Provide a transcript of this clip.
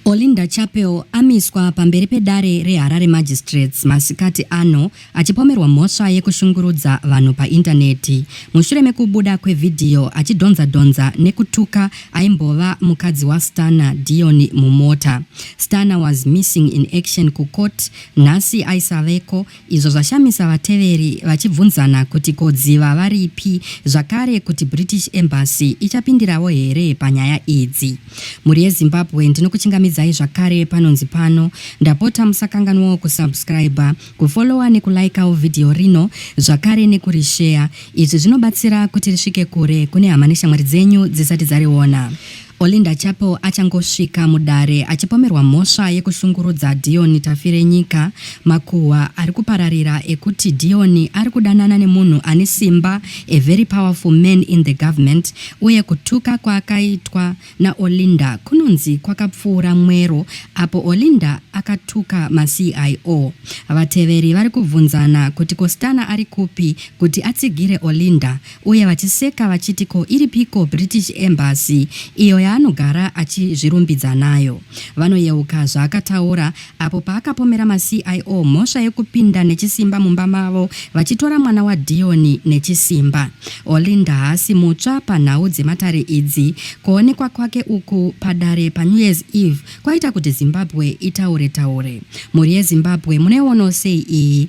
Olinda Chapel amiswa pamberi pedare reHarare Magistrates masikati ano achipomerwa mhosva yekushungurudza vanhu paindaneti mushure mekubuda kwevhidhiyo achidhonza dhonza nekutuka aimbova mukadzi waStana Dion mumota. Stana was missing in action kucourt nhasi aisaveko izvo zvashamisa vateveri vachibvunzana kuti ko dziva varipi zvakare kuti British Embassy ichapindirawo here panyaya idzi. Mhuri yeZimbabwe ndinokuchingamidzai zvakare panonzi pano, ndapota musakanganwawo kusubscriber, kufollowa nekulaikawo vhidhiyo rino zvakare nekurisheya, izvi zvinobatsira kuti risvike kure kune hama neshamwari dzenyu dzisati dzariona. Olinda Chapo achangosvika mudare achipomerwa mhosva yekushungurudza Dion Tafirenyika, makuhwa ari kupararira ekuti Dion ari kudanana nemunhu ane simba, a very powerful man in the government, uye kutuka kwaakaitwa naOlinda kunonzi kwakapfuura mwero apo Olinda akatuka maCIO. Vateveri vari kubvunzana kuti ko Stunner ari kupi kuti atsigire Olinda uye vachiseka vachiti ko iripiko British Embassy iyo yaanogara achizvirumbidza nayo. Vanoyeuka zvaakataura apo paakapomera maCIO mhosva yekupinda nechisimba mumba mavo vachitora mwana waDion nechisimba. Olinda haasi mutsva panhau dzematare idzi. Kuonekwa kwake uku padare paNew Year's Eve kwaita kuti Zimbabwe itaure taure. Mhuri yeZimbabwe munoionawo sei iyi?